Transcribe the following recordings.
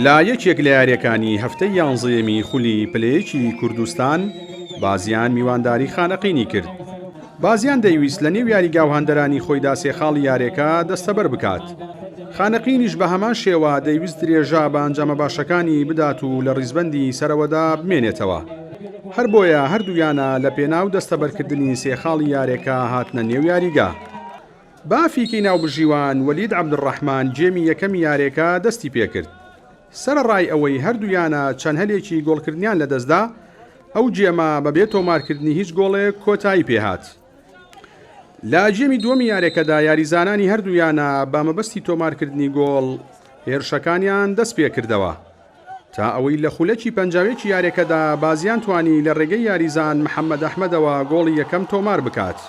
لە یەکێک لە یاریەکانی هەفتەی یانزەیەمی خولی پلەیەکی کوردستان بازیان میوانداری خانەقینی کرد بازیان دەیویست لە نێو یاریگاو هەندەرانی خۆیدا سێخاڵی یارێکە دەستەبەر بکات خانەقینیش بە هەمان شێوە دەیویست درێژا بە ئەنجامە باشەکانی بدات و لە ڕیزبەندی سەرەوەدا بمێنێتەوە هەر بۆیە هەردوویانە لە پێناو دەستەبەرکردنی سێخاڵی یارێکە هاتنە نێو یاریگا بافیکی ناوبژیوان وەلید عەبدولڕەحمان جێمی یەکەمی یارێکە دەستی پێکرد، سەرەڕای ئەوەی هەردوویانە چەند هەلێکی گۆڵکردنیان لەدەستدا، ئەو جێمە بەبێ تۆمارکردنی هیچ گۆڵێک کۆتایی پێهات. لە جێمی دووەمی یارێکەدا یاریزانانی هەردوو یانە بە مەبەستی تۆمارکردنی گۆڵ هێرشەکانیان دەستپێکردەوە، تا ئەوەی لە خولەکی پەنجاوێکی یارێکەدا بازیان توانی لە رێگەی یاریزان محەمەد ئەحمەدەوە گۆڵی یەکەم تۆمار بکات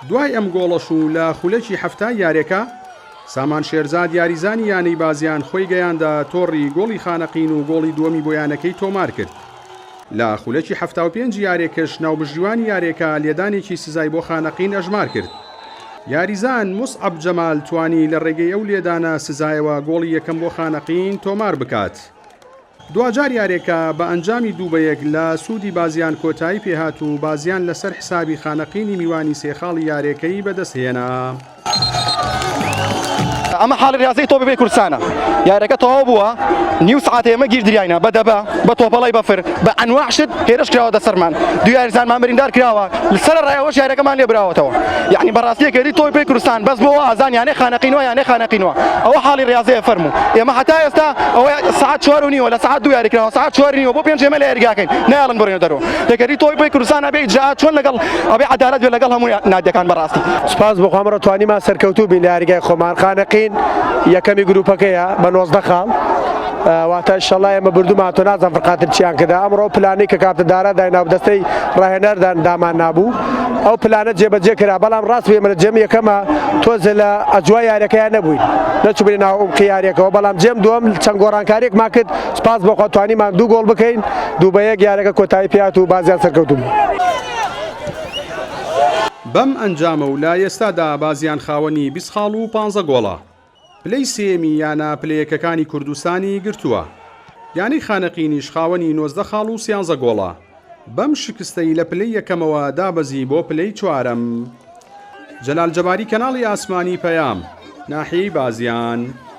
دوای ئەم گۆڵەش و لە خولەکی حەفتای یارێکە سامان شێرزاد یاریزانی یانەی بازیان خۆی گەیاندە تۆڕی گۆڵی خانەقین و گۆڵی دووەمی بۆ یانەکەی تۆمار کرد. لە خولەکی حەفتا و پێنج یارێکش ناوبژیوانی یارێکە لێدانێکی سزای بۆ خانەقین ئەژمار کرد. یاریزان موسعەب جەمال توانی لە ڕێگەی ئەو لێدانە سزایەوە گۆڵی یەکەم بۆ خانەقین تۆمار بکات. دواجار یارێکە بە ئەنجامی دوو بە یەک لە سوودی بازیان کۆتایی پێهات و بازیان لەسەر حسابی خانەقینی میوانی سێ خاڵی یارێکەی بەدەستهێنا. ئەمە حاڵی ریاضی تۆ ببێ کوردستانە یارەکە تەواو بووە نیو سعات ئێمە گیر دریاینا بە دەبە بە تۆپەڵی بەفر بە ئەنواع شت هێرش کراوە دەسەرمان دو یارزانمان بریندار کراوە لەسەر ڕایەوەش یارەکەمان لێ براوەتەوە یعنی بەڕاستیەکەری تۆی پێ کوردستان بەس بۆ ئازان یانە خانەقینەوە یانە خانەقینەوە ئەوە حاڵی ریاضەیە فەرموو ئێمە حتا ئێستا ئەوە سعات چوار و نیوە لە سعات دو یاریکراوە سعات چوار نیوە بۆ پێنج ئێمە لە یاریگاکەین نایڵن بڕێنە دەرەوە دەگەری تۆی بۆی کوردستان ئەبێ جا چۆن لەگەڵ ئەبێ عدالت بێ لەگەڵ هەموو نادەکان بەڕاستی سپاس بۆ خۆمەڕە توانیمان سەرکەوتوو بین لە یاریگای خۆمان خانەقین یەکەمی گروپەکەیە بە نۆزدە خاڵ واتە شەڵا ئێمە بردومان تۆ نازان فقاتر چیان کردا ئەمڕۆ پلانی کە کاتە دارا دایناو دەستەی ڕاهێنەردان دامان نابوو ئەو پلانە جێبەجێ کرا بەڵام ڕاست بێمە لە جێم یەکەمە تۆزە لە ئەجوای یارەکەیان نەبووین نەچبێ ناو ئەم قیارەکەەوە بەڵام جێم دوم چەند گۆڕانکاریێکمان کرد سپاس بۆ خوا توانیمان دوو گۆڵ بکەین دوو بە یەک یارەکە کۆتایی پێهات و بازیان سەرکەوتوو بوو. بەم ئەنجامە و لە ئێستادا بازیان خاوەنی بیست خاڵ و پانزە گۆڵە، پلەی سێیەمی یانە پلە یەکەکانی کوردستانی گرتووە، یانەی خانەقینیش خاوەنی نۆزدە خاڵ و سیانزە گۆڵە، بەم شکستەی لە پلەی یەکەمەوە دابەزی بۆ پلەی چوارەم. جەلال جەباری کەناڵی ئاسمانی پەیام، ناحیەی بازیان.